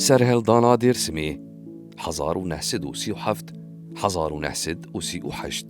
Serhildana Dêrsimê hezar û neh sed û sî û heft hezar û neh sed û sî û heşt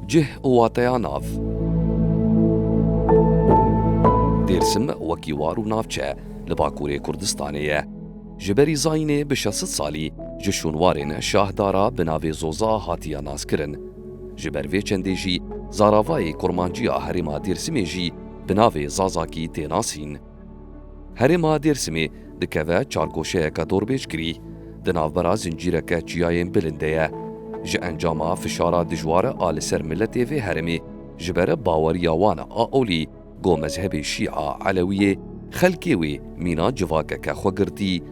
Cih û wateya nav. Dêrsim wekî war û navçe li Bakurê Kurdistanê ye. Ji berî zayînê bi şesit salî ji şûnwarên Şah Dara bi navê Zoza hatiye naskirin. Ji ber vê çendê jî zaravayê kurmanciya herêma Dêrsimê jî bi navê Zazakî tê nasîn. Herêma Dêrsimê dikeve çar goşeyeke dorbêjkirî, di navbera zincîreke çiyayên bilind de ye. Ji encama fişara dijwar a li ser miletê vê herêmê ji ber baweriya wan a olî ku mezhebê Şîa Elewiyê xelkê wê mîna civakeke xwe girtî,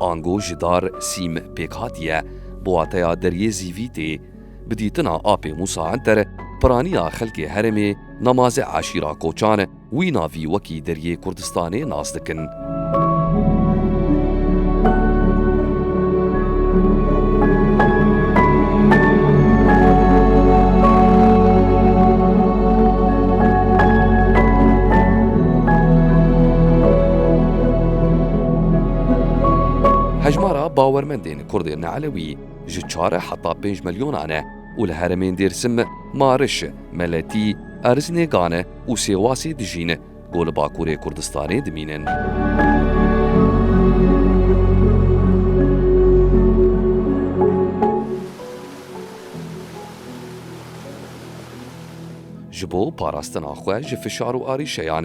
Ango ji dar sîm pêk hatiye, bi wateya deriyê zîvî tê. Bi dîtina apê Mûsa Enter, piraniya xelkê herêmê Namaze eşîra Koçan wî navî wekî deriyê Kurdistanê nas dikin. Hejmara bawermendên Kurdên neelewî ji çar heta pênc milyonan e û li heremên Dêrsim, Mariş, Meletî, Erzinêgan û Sêwasê dijîn ku li Bakurê Kurdistanê dimînin. Ji bo parastina xwe ji fişar û arîşeyan,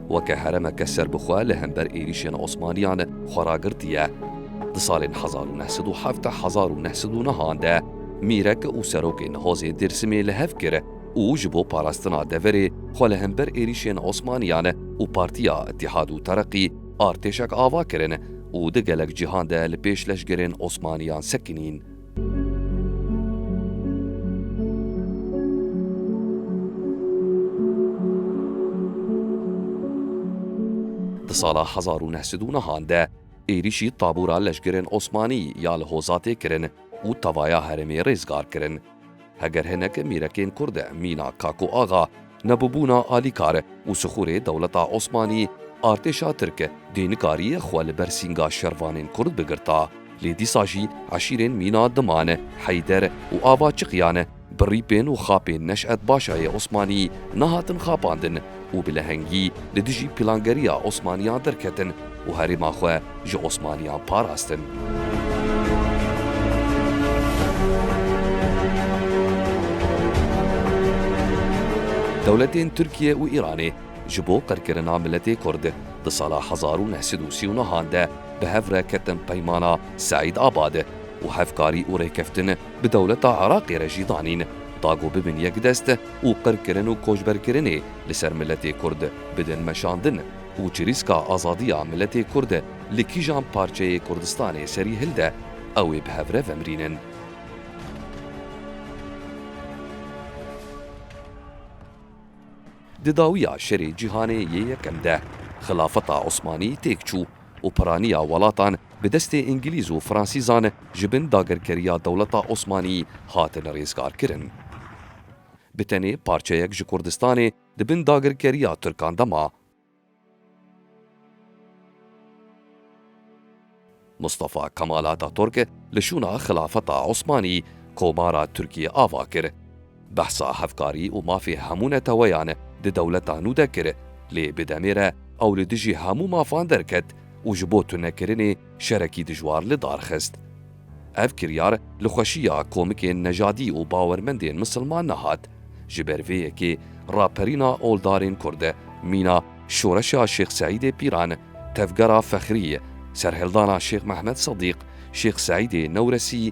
weke heremeke serbixwe li hember êrîşên Osmaniyan xwe ragirtiye. Di salên hezar û neh sed û hevdeh hezar û neh sed û nihan de mîrek û serokê nihozê Dêrsimê li hev kir û ji bo parastina deverê xwe li hember êrîşên Osmaniyan û Partiya Îtîhad û Tereqî artêşek ava kirin û di gelek cîhan de li pêş leşgerên Osmaniyan sekinîn. Di sala hezar û neh sed û nehan de êrîşî tabûra leşgerên Osmanî ya li Hozatê kirin û tevaya herêmê rêzgar kirin. Heger hinek mîrekên kurd e mîna Kako Axa, nebûbûna alîkar û sixûrê dewleta Osmanî, artêşa tirk dê nikariye xwe li ber sînga şervanên kurd bigirta. Lê dîsa jî eşîrên mîna Diman, Heyder û ava Çiqyan bi rîpên û xapên Neş'et Başayê Osmanî nehatin xapandin. û bi lehengî li dijî pîlangeriya Osmaniyan derketin û herêma xwe ji Osmaniyan parastin. Dewletên Tirkiye û Îranê ji bo qirkirina miletê Kurd di sala hezar û neh sed û sî û neh an de bi hev re ketin Peymana Seîd Abad û hevkarî û rêkeftin bi dewleta Iraqê re jî danîn da ku bibin yekdest û qirkirin û koçberkirinê li ser miletê Kurd bidin meşandin û çirîska azadiya miletê Kurd li kîjan parçeyê Kurdistanê serî hilde, ew ê bi hev re vemrînin. Di dawiya şerê cîhanê yê yekem de, xilafeta Osmanî têk çû. û piraniya welatan bi destê îngilîz û fransîzan ji bin dagirkeriya dewleta Osmanî hatin rêzgarkirin. Bi tenê parçeyek ji Kurdistanê di bin dagirkeriya Tirkan de ma. Mustafa Kemal Ataturk li şûna Xilafeta Osmanî komara Tirkiyê ava kir. Behsa hevkarî û mafê hemû neteweyan di dewleta nû de kir, lê bi demê re ew li dijî hemû mafan derket û ji bo tunekirinê şerekî dijwar li dar xist. Ev kiryar li xweşiya komikên nejadî û bawermendên misilman nehat. Ji ber vê yekê raperîna oldarên kurd, mîna Şoreşa Şêx Seîdê Pîran, Tevgera Fexrî, Serhildana Şêx Mehmed Sedîq, Şêx Seîdê Newresî,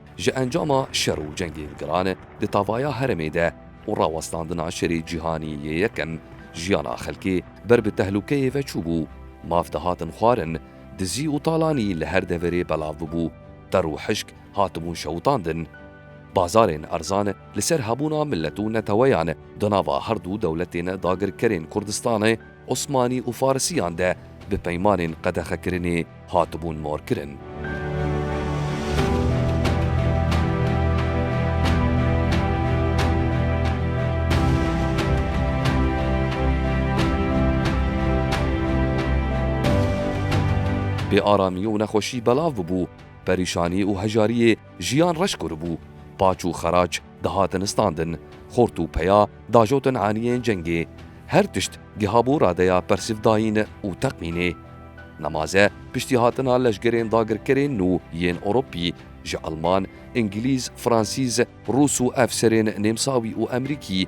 Ji encama şer û cengên giran di tavaya herêmê de û rawestandina şerê cîhanî yê yekem, jiyana xelkê ber bi tehlûkeyê ve çûbû, maf dihatin xwarin, dizî û talanî li her deverê belav bûbû, qer û hişk hatibûn şewitandin. Bazarên erzan li ser hebûna milet û neteweyan di nava her du dewletên dagirkerên Kurdistanê, Osmanî û Farisiyan de bi peymanên qedexekirinê hatibûn morkirin. Bêaramî û nexweşî belav bûbû, perîşanî û hejariyê jiyan reş kiribû, paç û xeraç, Dihatin standin, xort û peya dajotin aniyên cengê. Her tişt gihabû radeya persivdayîn û teqmînê. Nemaze piştî hatina leşgerên dagirkerên nû yên Ewropî ji Elman, Îngilîz, Fransîz, Rûs û efserên Nêmsawî û Emrîkî,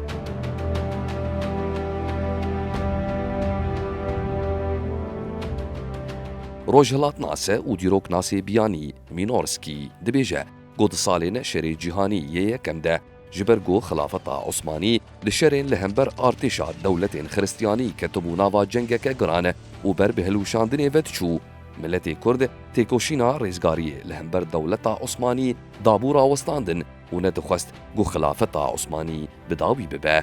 Rojhilatnase û dîroknasê biyanî Mînorskî dibêje ku di salên Şerê Cîhanî yê Yekem de ji ber ku Xilafeta Osmanî di şerên li hember artêşa dewletên xiristiyanî ketibû nava cengeke giran û ber bi hilwişandinê ve diçû, miletê Kurd têkoşîna rêzgariyê li hember dewleta Osmanî dabû rawestandin. û ne dixwest ku xilafeta Osmanî bi dawî bibe.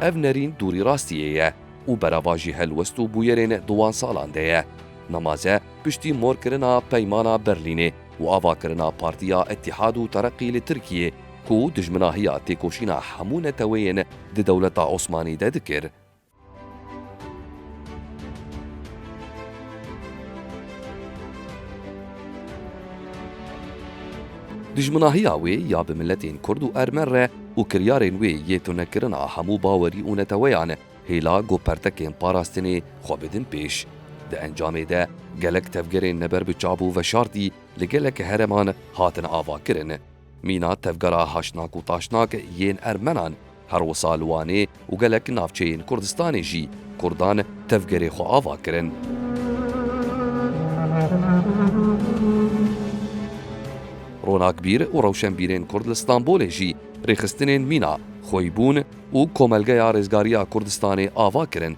Ev nerîn dûrî rastiyê ye û berava jî helwest û bûyerên di wan salan de ye. Nemaze piştî morkirina Peymana Berlînê û avakirina Partiya Îttîhad û Tereqî li Tirkiyê ku dijminahiya têkoşîna hemû neteweyên di dewleta Osmanî de dikir, Dijminahiya wê ya bi miletên kurd û ermen re û kiryarên wê yê tunekirina hemû bawerî û neteweyan e, hêla ku pertekên parastinê xwe bidin pêş. Di encamê de gelek tevgerên neber bi çab û veşartî li gelek hereman hatin avakirin. Mîna tevgera Haşnak û Taşnak yên Ermenan, her wisa li Wanê û gelek navçeyên Kurdistanê jî Kurdan tevgerê xwe ava kirin. Ronakbîr û rewşenbîrên Kurd li Stenbolê jî rêxistinên mîna Xweyîbûn û Komelgeya Rêzgariya Kurdistanê ava kirin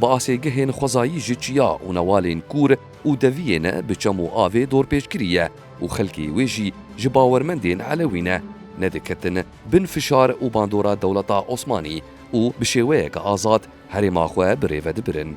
Bi asêgehên xwezayî ji çiya û newalên kûr û deviyê ne bi çem û avê dorpêçkirî ye û xelkê wê jî ji bawermendên Elewî ne ne diketin bin fişar û bandora dewleta Osmanî û bi şêweyeke azad herêma xwe bi rê vedibirin.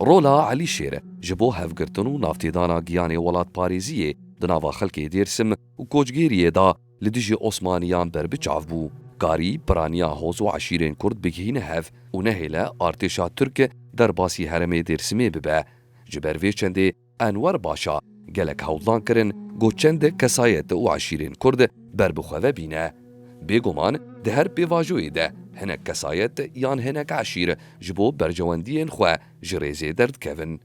Rola Elî Şêr e ji bo hevgirtin û navtêdana giyanê welatparêziyê di nava xelkê Dêrsim û kocgêriyê de li dijî Osmaniyan berbiçav bû. Karî piraniya hoz û eşîrên Kurd bigihîne hev û nehêle artêşa Tirk derbasî herêmê Dêrsimê bibe. Ji ber vê çendê Enwer Başa, Gelek hewldan kirin ku çendek kesayet û eşîrên Kurd ber bi xwe ve bîne. Bêguman di her pêvajoyê de hinek kesayet yan hinek eşîr ji bo berjewendiyên xwe ji rêzê derdikevin.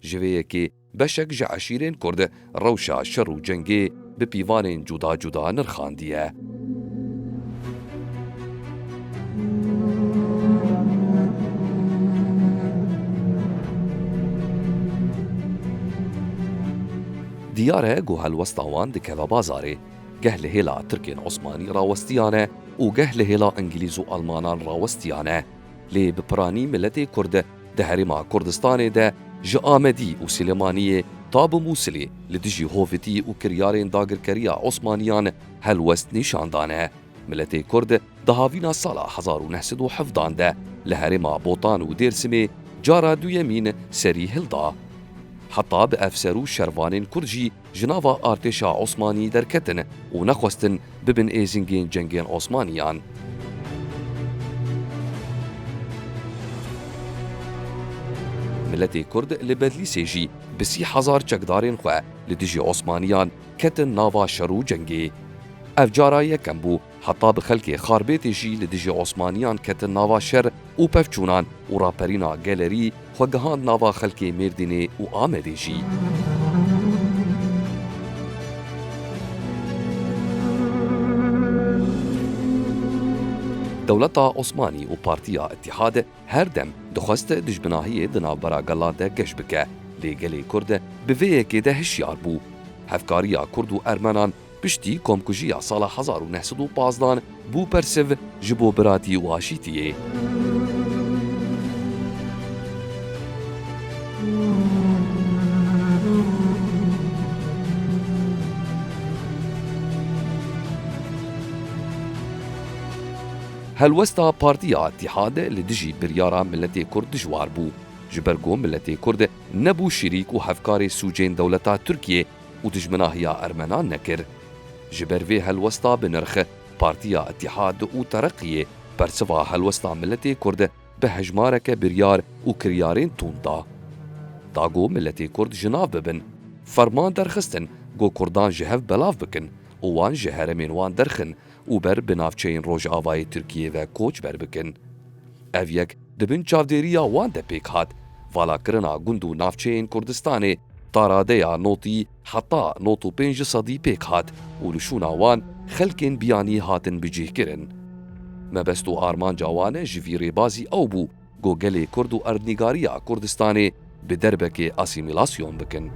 Ji vê yekê beşek ji eşîrên Kurd rewşa şer û cengê, bi pîvanên cuda cuda nirxandiye. Diyar e ku helwesta wan dikeve bazarê. Geh li hêla Tirkên Osmanî rawestiyane û geh li hêla Îngilîz û Almanan rawestiyane. Lê bi piranî miletê Kurd Di Herêma Kurdistanê de ji Amedî û Silêmaniyê ta bi Mûsilê li dijî hovitî û kiryarên dagirkeriya Osmaniyan helwest nîşan dane. Miletê Kurd di havîna sala hezar û neh sed û hevdan de li herêma Botan û Dêrsimê cara duyemîn serî hilda. Heta bi efser û şervanên Kurd jî ji nava artêşa Osmanî derketin û nexwestin bibin êzingên cengên Osmanîyan. Miletê Kurd li Bedlîsê jî bi sî hezar çekdarên xwe li dijî Osmanîyan ketin nava şer û cengê. Ev cara yekem bû Heta bi xelkê xarbêtê jî li dijî Osmaniyan ketin nava şer û pevçûnan û raperîna gelerî xwe gihand nava xelkê Mêrdînê û Amedê jî. Dewleta Osmanî û Partiya Îttîhad her dem dixwest dijminahiyê di navbera gelan de geş bike, lê gelê Kurd bi vê yekê de hişyar bû. Hevkariya Kurd û Ermenan Piştî komkujiya sala hezar û neh sed û pazdan bû persiv ji bo biratî û aşîtiyê. Helwesta Partiya Îttihad li dijî biryara miletê Kurd dijwar bû. Ji ber ku miletê Kurd nebû şirîk û hevkarê sûcên dewleta Tirkiyê, û dijminahiya ermenan nekir. Ji ber vê helwesta bi nirx, Partiya Îtîhad û Tereqiyê bersiva helwesta miletê Kurd bi hejmareke biryar û kiryarên tund da. Da ku miletê Kurd ji nav bibin. Ferman derxistin ku Kurdan ji hev belav bikin û wan ji heremên wan derxin û ber bi navçeyên Rojavayê Tirkiyê ve koçber bikin. Ev yek Di bin çavdêriya wan de pêk hat valakirina gund û navçeyên Kurdistanê, taradeya notî heta nod û pênc di sedî pêk hat û li şûna wan xelkên biyanî hatin bicihkirin. Mebest û armanca wan ji vî rêbazî ew bû ku gelê Kurd û erdnîgariya Kurdistanê, Bi derbekê asîmîlasyon bikin.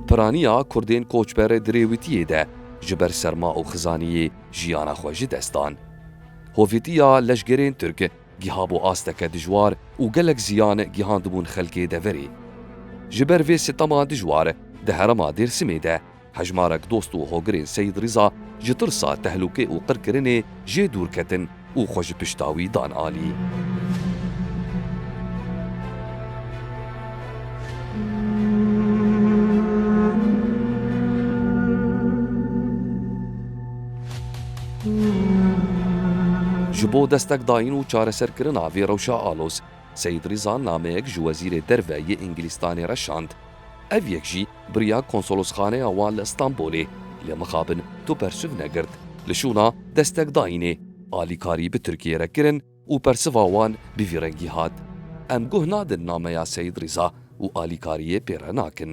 Piraniya Kurdên koçber di rêwîtiyê de ji ber serma û xizaniyê jiyana xwe ji dest dan. Hovîtiya leşgerên Tirk Giha bû asteke dijwar û gelek ziyan gihandibûn xelkê deverê. Ji ber vê sitema dijwar di herêma Dêrsimê de hejmarek dost û hogirên Seyîd Rîza ji tirsa tehlûkê û qirkirinê jê dûr ketin û xwe ji pişta wî dan alî. Ji bo destek dayîn û çareserkirina vê rewşa aloz, Seyîd Rîza nameyek ji Wezîrê Derve yê Îngilîstanê re şand. Ev yek jî biriya konsolosxaneya wan li Îstanbulê, lê mixabin tu bersiv negirt, li şûna destek dayînê alîkarî bi Tirkiyê re kirin, Û persiva wan bi vî rengî hat, Em guh nadin nameya Seyîd Rîza û alîkariyê pê re nakin.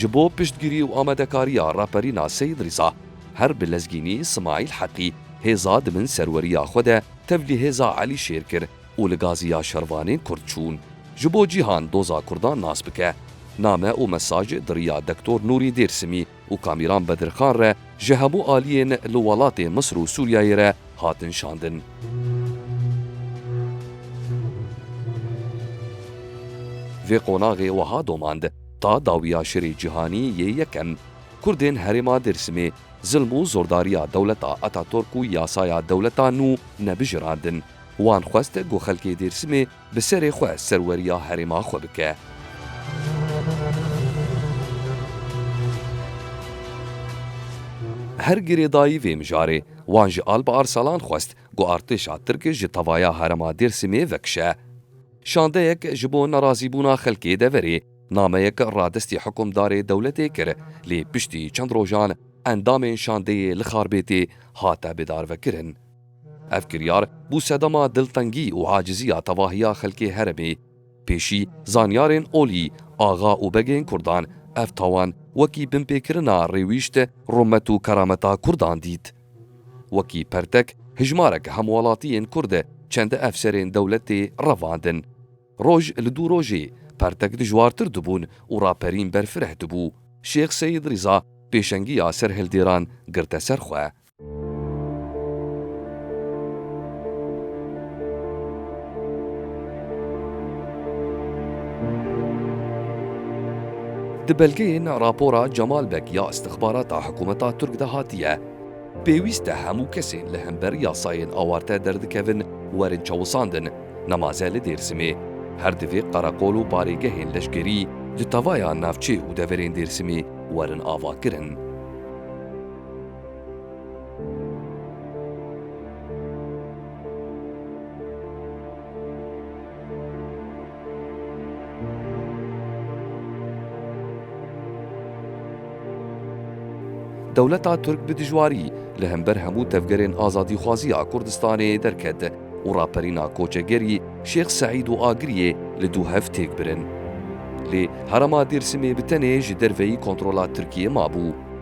Ji bo piştgirî û amadekariya Raperîna Seyîd Rîza, her bi lezgînî Simaîl Heqî hêza di bin serweriya xwe de tevlî hêza Elî Şêr kir û li gazî ya şervanên Kurd çûn. Ji bo cîhan doza Kurdan nas bike, name û mesaj di riya Dektor Nûrî Dêrsimî, û Kamîran Bedirxan re ji hemû aliyên li welatê Misir û Sûriyeyê re hatin şandin. Vê qonaxê wiha domand, Ta dawiya Şerê Cîhanî yê Yekem, Kurdên herêma Dêrsimê zilm û zordariya dewleta Ataturk û yasaya dewleta nû nebijirandin. Wan xwest ku xelkê Dêrsimê Bi serê xwe serweriya herêma xwe bike. Her girêdayî vê mijarê, wan ji Alp Arsalan xwest ku artêşa Tirk ji tavaya herêma Dêrsimê vekişe. Şandeyek ji bo nerazîbûna xelkê deverê, nameyek radestî hikumdarê dewletê kir, lê piştî çend rojan endamên şandeyê li Xarbêtê hate bêdarvekirin. Ev kiryar bû sedema diltengî û aciziya tevahiya xelkê heremê. Pêşî zanyarên olî, axa û begên kurdan ev tawan wekî binpêkirina rêwîşt, rumet û kerameta kurdan dît. Wekî pertek hijmarek hemwelatiyên kurd çend ev serên dewletê revandin. Roj li dû rojê pertek dijwartir dibûn û raperîn berfireh dibû. Şêx Seyîd Rîza pêşengiya serhildêran girte ser xwe. Di belgeyên rapora Cemal Beg ya îstixbarata hikûmeta Tirk de hatiye, Pêwîst e hemû kesên li hember yasayên awarte derdikevin werin çawisandin, nemaze li Dêrsimê. Her divê qereqol û barêgehên leşkerî li tevaya navçê û deverên Dêrsimê werin avakirin. Dewleta Tirk bi dijwarî li hember hemû tevgerên azadîxwazî ya Kurdistanê derket û raperîna koçegerî Şêx Seîd û Agiriyê li du hev têk birin. Lê herêma Dêrsimê bi tenê ji derveyî kontrola Tirkiyê mabû.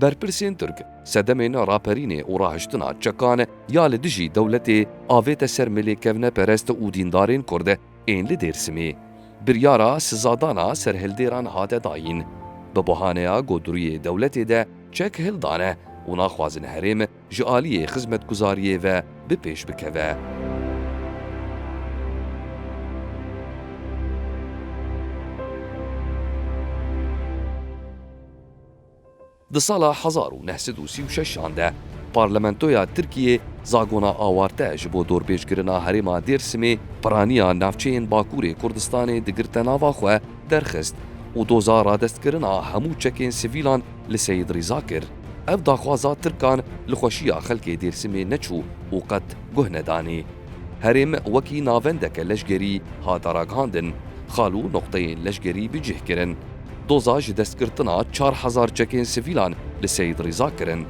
Berpirsên Tirk, sedemên raperînê û rahiştina çekan ya li dijî dewletê avête ser milê kevneperest û dîndarên Kurd ên li Dêrsimê. Biryara sizadana serhildêran hate dayîn. Bi bahaneya ku duriyê dewletê de çek hildane û naxwazin herêm ji aliyê xizmetguzariyê ve bi pêş bikeve. Di sala hezar û neh sed û sî û şeşan de Parlamentoya Tirkiyê zagona awarte ji bo dorbêjkirina herêma Dêrsimê piraniya navçeyên Bakurê Kurdistanê digirte nava xwe derxist û doza radestkirina hemû çekên sivîlan li Seyîd Rîza kir. Ev daxwaza Tirkan li xweşiya xelkê Dêrsimê neçû û qet guh nedanê. Herêm wekî navendeke leşgerî hate ragihandin, xal û noqteyên leşgerî bi cih kirin. Doza ji destgirtina çar hezar çekên sivîlan li Seyîd Rîza kirin.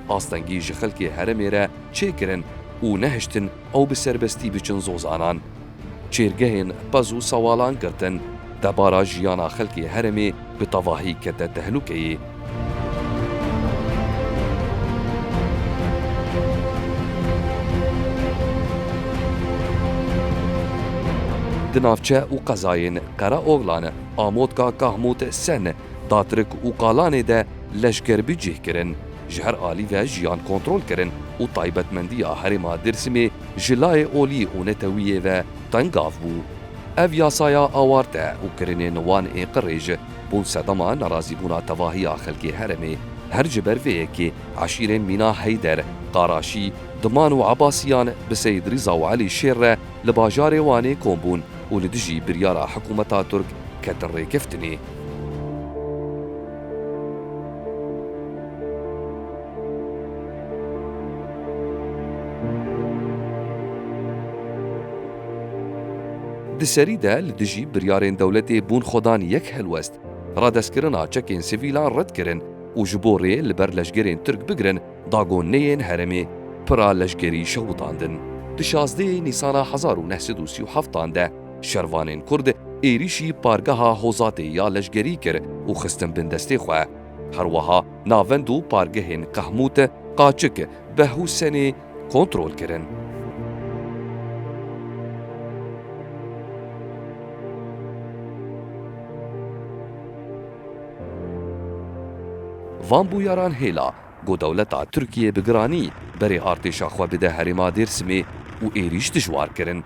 Astengî ji xelkê herêmê re çêkirin û nehiştin ew bi serbestî biçin Zozanan. Çêrgehên pez û sewalan girtin. Debara jiyana xelkê herêmê bi tevahî kete tehlûkeyê. Di navçe û qezayên Qereoxlan, Amotka, Kahmût, Sen, Datrik û Kalanê de leşker bi cih kirin, ji her alî ve jiyan kontrol kirin û taybetmendiya herêma Dêrsimê ji layê olî û netewîyê ve tengav bû. Ev yasaya awarte û kirinên wan ê qirê ji bo sedema nerazîbûna tevahiya xelkê herêmê her ji ber vê yekê eşîrên mîna Heyder, Qaraşî, Diman û Ebasîyan bi Seyîd Rîza û Elî Şêr re li bajarê Wanê kom bûn û li dijî biryara hikûmeta Tirk ketin rêkeftinê. Di serî de li dijî biryarên dewletê bûn xwedan yek helwest, radestkirina çekên sivîlan red kirin û ji bo rê li ber leşgerên Tirk bigirin dagoneyên herêmê pira leşkerî şewitandin. Di şazdeyê Nîsana hezar û neh sed û sî û heftan de, Şervanên Kurd êrîşî pargeha Hozatê ya leşgerî kir û xistin bin destê xwe. Her weha navend û pargehên Qehmût, Qaçik, Beh û Senê kontrol kirin. Van bûyaran hêla ku dewleta Tirkiyê bi giranî berê artêşa xwe bide herêma Dêrsimê û êrîş dijwar kirin.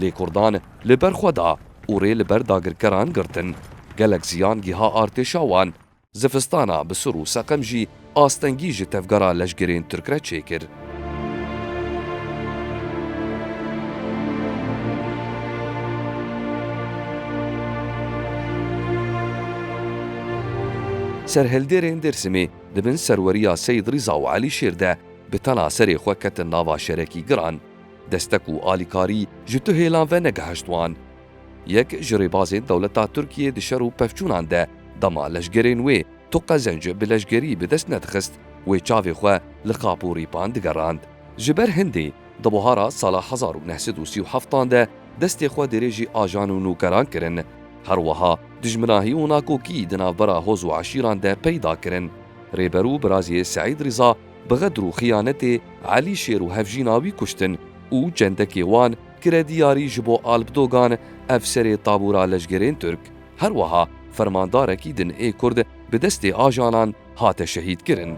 Lê kurdan li ber xwe da û rê li ber dagirkeran girtin. Gelek ziyan giha artêşa wan. Zivistana bi sir û seqem jî astengî ji tevgera leşgerên Tirk re çêkir. Serhildêrên Dêrsimê di bin serweriya Seyîd Rîza û Elî Şêr de bi tena serê xwe ketin nava şerekî giran. Destek û alîkarî ji tu hêlan ve negehişt wan. Yek ji rêbazên dewleta Tirkiyê di şer û pevçûnan de dema leşgerên wê tu qezenc bi leşgerî bi dest nedixist wê çavê xwe li qap û rîpan digerand. Ji ber hindê di buhara sala hezar û neh sed û sî û heft an de destê xwe dirêjî ajan û nûkeran kirin. Her wiha dijminahî û nakokî di navbera hoz û eşîran de peyda kirin. Rêber û birazê Seîd Rîza Bi xedr û xiyanetê Elî Şêr û hevjîna wî kuştin û çendekê wan kire diyarî ji bo Alp Dogan, efserê tabûra leşgerên Tirk, herweha fermandarekî din ê Kurd bi destê ajanan hate şehîdkirin.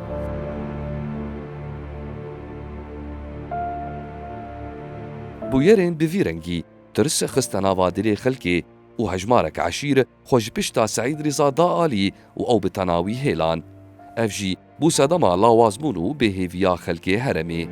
Bûyerên bi vî rengî tirs xiste nava dilê xelkê û hejmarek eşîr, xwe ji pişta Seîd Rîza da alî û ew bi tena wî hêlan. Ev jî bû sedema lawazbûn û bêhêviya xelkê heremê.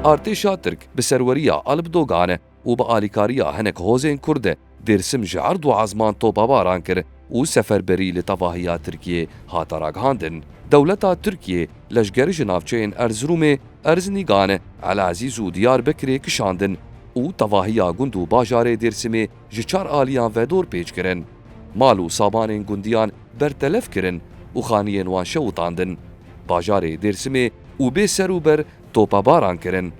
Artêşa Tirk bi serweriya Alp Dogan û bi alîkariya hinek hozên Kurd, Dêrsim ji erd û ezman topebaran kir û seferberî li tevahiya Tirkiyê hate ragihandin. Dewleta Tirkiyê leşger ji navçeyên Erzirûmê, Erzinîgan, Elezîz û Diyarbekirê kişandin û tevahiya gund û bajarê Dêrsimê ji çar aliyan ve dor pêç kirin. Mal û sabanên gundiyan bertelef kirin û xaniyên wan şewitandin. Bajarê Dêrsimê û bê ser û ber topebaran kirin.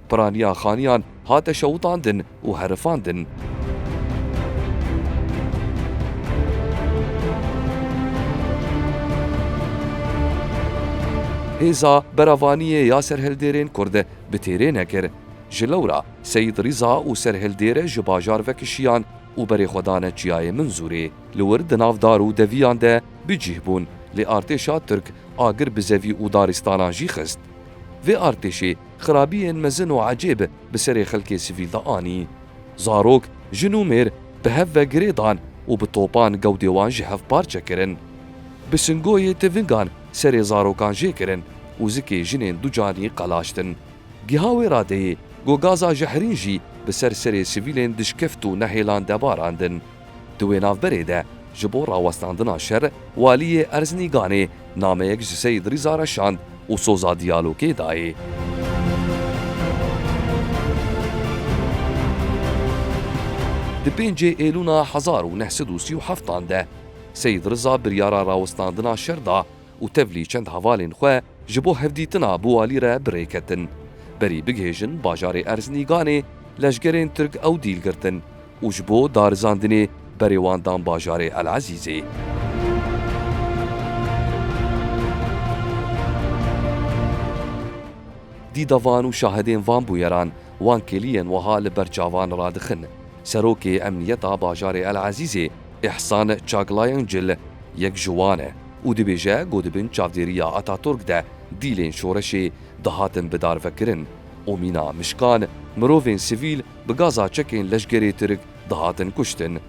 Piraniya xaniyan hate şewitandin û herifandin. Hêza Beravaniyê ya Serhildêrên Kurd bi têrê nekir. Ji lewra Seyîd Rîza û Serhildêr ji bajar vekişiyan û berê xwe dane Çiyayê Minzûrê. Li wir di nav dar û deviyan de bi cîh bûn, lê artêşa Tirk agir bi zevî û daristanan jî xist. Vê artêşê xirabiyên mezin û ecêb bi serê xelkê sivîl de anî. Zarok, jin û mêr bi hev ve girê dan û bi topan gewdê wan ji hev parçe kirin. Bi singoyê tivingan serê zarokan jê kirin û zikê jinên ducanî qelaştin. Giha wê radeyê, got gaza jehrîn jî bi ser serê sivîlên dişkeft û nehêlan de barandin. Di wê navberê de ji bo rawestandina şer Waliyê Erzinîganê nameyek ji Seyîd Rîza re şand û soza diyalogê dayê. Di pêncê Êlûna hezar û neh sed û sî û heftan de Seyîd Rîza biryara rawestandina şer da û tevlî çend hevalên xwe ji bo hevdîtina bi Walî re bi rê ketin. Berî bigihêjin bajarê Erzinîganê leşgerên Tirk ew dîl girtin û ji bo darizandinê berê wan dan bajarê El Ezîzê. Dîda van û şahidên van bûyeran wan kêliyên wiha li ber çavan radixin, Serokê Emniyeta Bajarê El Ezîzê Îhsan Çaglayancil yek ji wan e û dibêje ku di bin çavdêriya Ataturk de dîlên şoreşê dihatin bidarvekirin û mîna mişkan, mirovên sivîl, Bi gaza çekên leşgerê Tirk dihatin kuştin.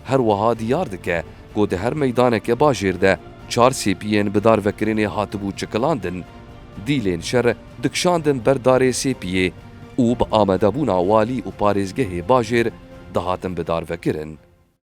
Her wiha diyar dike ku di her meydaneke bajêr de çar sêpiyên bi darvekirinê hatibû çikilandin. Dîlên şer dikişandin ber darê sêpiyê û bi amadebûna walî û parêzgehê bajêr dihatin bi darvekirin.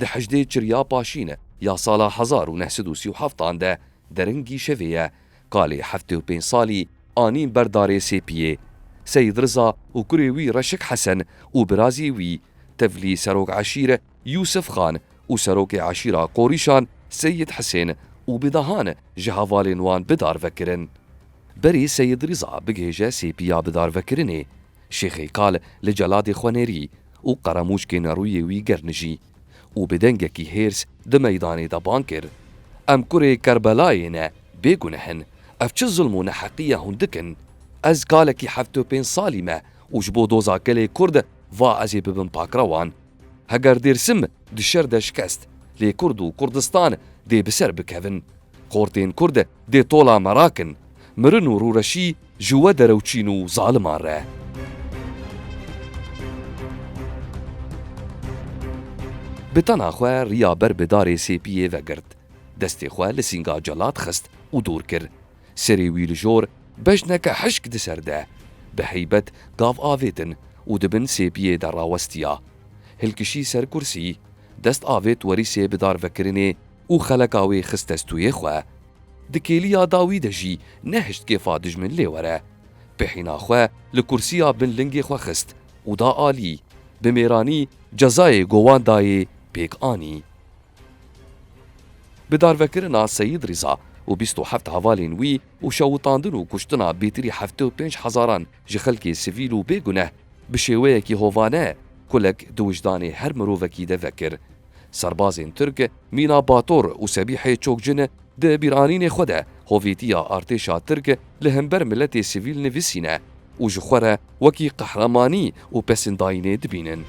Di hejdê çirya paşîne ya sala hezar û neh sed û sî û heft an de derin gîşevê ye, kalê heftê û pênc salî anîn ber darê Sêpiyê. Seyîd Riza û kurê wî Reşik Hesen û birazî wî, tevlî serok eşîre Yûsif Xan û serokê eşîra Qorîşan Seyîd Hisên û bi dehan ji hevalên wan bi darvekirin. Berê Seyîd Riza bigihêje Sêpiya bidarvekirinê, Şêxeykal li celadê xwe nêrî Û qeremoçkê nerûyê wî gernijî û bi dengekî hêrs di meydanê de bang kir, Em kurê Kerbelayê ne, bêguneh in. Ev çi zulm û neheqî ye hûn dikin? Ez kalekî heft û pênc salî me û ji bo doza gelê Kurd va ez ê bibim pakrewan. Heger Dêrsim di şer de şikest, lê Kurd û Kurdistan dê bi ser bikevin. Xortên Kurd Dê tola me rakin. Mirin û rûreşî ji we derewçîn û zaliman re. Bi tena xwe riya ber bi darê sêpiyê vegirt. Destê xwe li sînga Celat xist û dûr kir. Serê wî li jor bejneke hişk di ser de, bi heybet gav avêtin û di bin sêpiyê de rawestiya. Hilkişî ser kursî, dest avêt werîsê bidarvekirinê. û xeleka wê xist testûyê xwe. Di kêliya dawî de jî nehişt kêfa dijmin lê were. Pêhîna xwe li kursiya bin lingê xwe xist û da alî. Bi mêranî cezayê ku wan dayê pêk anî. Bi darvekirina Seyîd Rîza û bîst û heft hevalên wî û şewitandin û kuştina bêtirî heftê û pênc hezaran ji xelkê sivîl û bêguneh bi şêweyekî hovane kulek di wijdanê her mirovekî de vekir. Serbazên Tirk mîna Bator û Sebîhê Çokcin di bîranînê xwe de hovîtiya artêşa Tirk li hember miletê sivîl nivîsîne û ji xwe re wekî qehremanî û pesindayînê dibînin.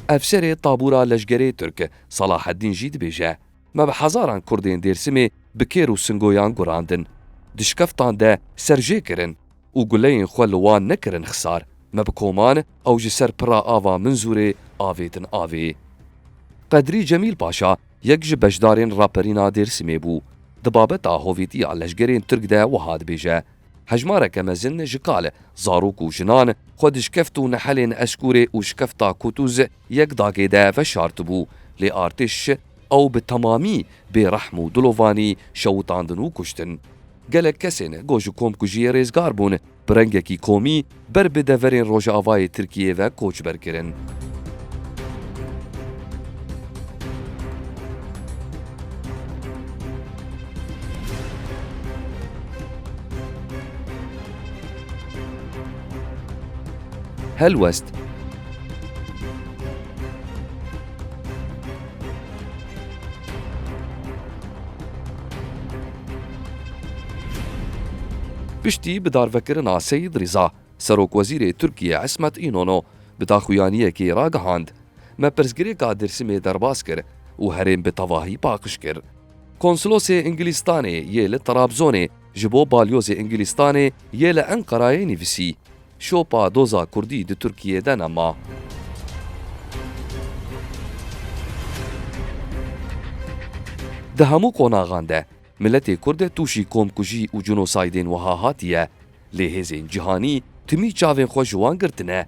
Efserê tabûra leşgerê Tirk Salaheddîn jî dibêje, Me bi hezaran Kurdên Dêrsimê bi kêr û singoyan gurandin. Di şikeftan de serjê kirin. û guleyên xwe li wan nekirin xisar, me bi koman ew ji ser pira ava Minzûrê avêtin avê. Qedrî Cemîl Paşa yek ji beşdarên raperîna Dêrsimê bû. Di babeta hovîtiya leşgerên Tirk de wiha dibêje, Hejmareke mezin ji kal, zarok û jinan xwe di şikeft û nehelên Eskûrê û şikefta Kûtûz yek dagê de veşartibû, lê artêş Ew bi temamî bê rehm û dilovanî şewitandin û kuştin. Gelek kesên ku ji komkujiyê rêzgar bûn, bi rengekî komî ber bi deverên rojavayê Tirkiyeyê ve koçber kirin. Helwest. Piştî bidarvekirina Seyîd Rîza, serokwezîrê Tirkiyê Îsmet Înono bi daxuyaniyekê ragihand, Me pirsgirêka Dêrsimê derbas kir û herêm bi tevahî paqij kir. Konsilosê Îngilîstanê yê li Trabzonê, Ji bo Balyozê Îngilîstanê yê li Enqerayê nivîsî, Şopa doza Kurdî di Tirkiyê de ne ma. Di hemû qonaxan de miletê Kurd tûşî komkujî û cinosaydên wiha hatiye, lê hêzên cîhanî timî çavên xwe ji wan girtine.